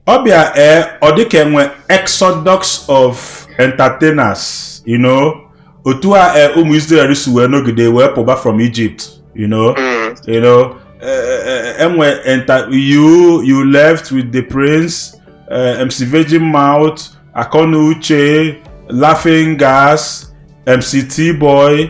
ọ bịa ee eh, ọ dịka e nwe exodus of entertainers you know otu a eh, ụmụ Israel si wee nọgide wee pụba from Egypt you know mm. you know eh, enwe you you left with the prince MC Virgin Mouth Akọnuche Laughing Gas MC T-Boy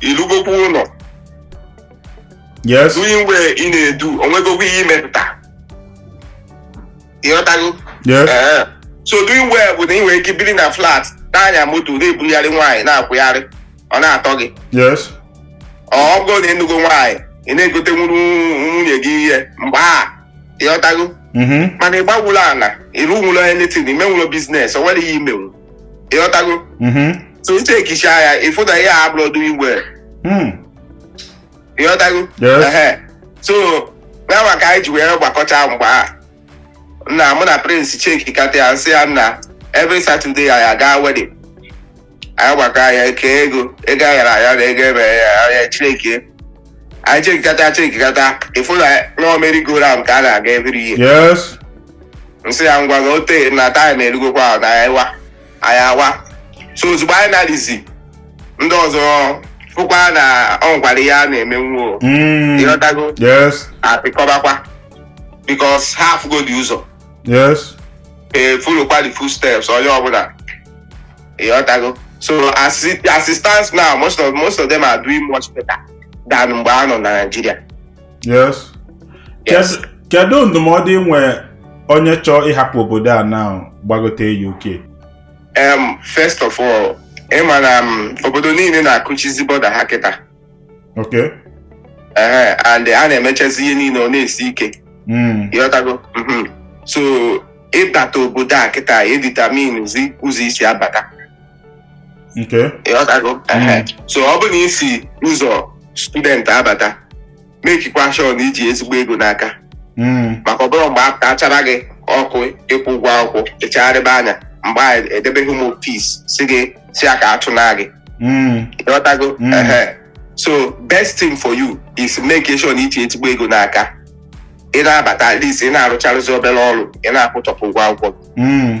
ị lụgokwa ụlọ yes doing well ị na-edu o nwegokwa ihe i mepụta ịghọtago yes Ee. so doing well bụ na ị nwere ike biri na flat na-anya moto na-ebugharị nwaanyị na-akwụgharị ọ na-atọ gị yes ọ bụrụ na ị nụgo nwaanyị ị na-egotenwuru nwunye gị ihe mgbe a ịghọtago mhm mana ị gbanwuro ala ị rụnwuro anything i menwuro business o nwero ihe i menwu ịghọtago Mhm. so i chekicha ya ị fụ na ihe a abụrọ doing well Mm. ịghọtago Yes. Ehe. so nawa ka anyị ji wee gbakọcha mgbe a nna mụ na prince chekikata ya m sị ya nna every saturday anyị aga wedding anyị gbakọ anyị ekee ego ego a yara aya na ego ebe ya anya chineke anyị chekikata chekikata ị fụ na ọ merry-go-round ka a na-aga every year yes m sị ya ngwa na o tee na time erugokwa na anyị wa anyị awa so ozugbo anyị na-adịzi ndị ọzọ fụkwa na ọ nkwara ihe a na-emenwu o Mm, ịghọtago yes apịkọbakwa because ha afụgodị ụzọ yes efollowkwa the footsteps onye ọbụla ịghọtago so as it as it stands now most of most of them are doing much better than mgbe ha nọ na Naịjirịa yes Yes. Kedu- kedu ndụmọdụ i nwe onye chọọ ịhapụ obodo a na gbagote UK um, first of all ị ma na um, obodo niile na-akụchizi border ha kịta Okay. ee and a na-emechazi ihe niile ọ na-esi ike Mm. ịghọtago Mhm. so ịbata obodo a kịta edeterminezi ụzọ i si abata Okay. ịghọtago Ehe. so ọ bụ na i si ụzọ student abata makekwa sure na i ji ezigbo ego n'aka Mm. maka ọ bụrụ mgbe a chara gị ọkụ ịkwụ ụgwọ akwụkwọ ị chagharịba anya mgbe a edebe gị Home Office si gị si aka achụna gị Mm. ịghọtago Mm. Ehe. so best thing for you is make sure na i ji ezigbo ego n'aka ị na-abata at least ị na-arụcharụzi obere ọrụ ị na-akwụchapụ ụgwọ akwụkwọ gị. Mm.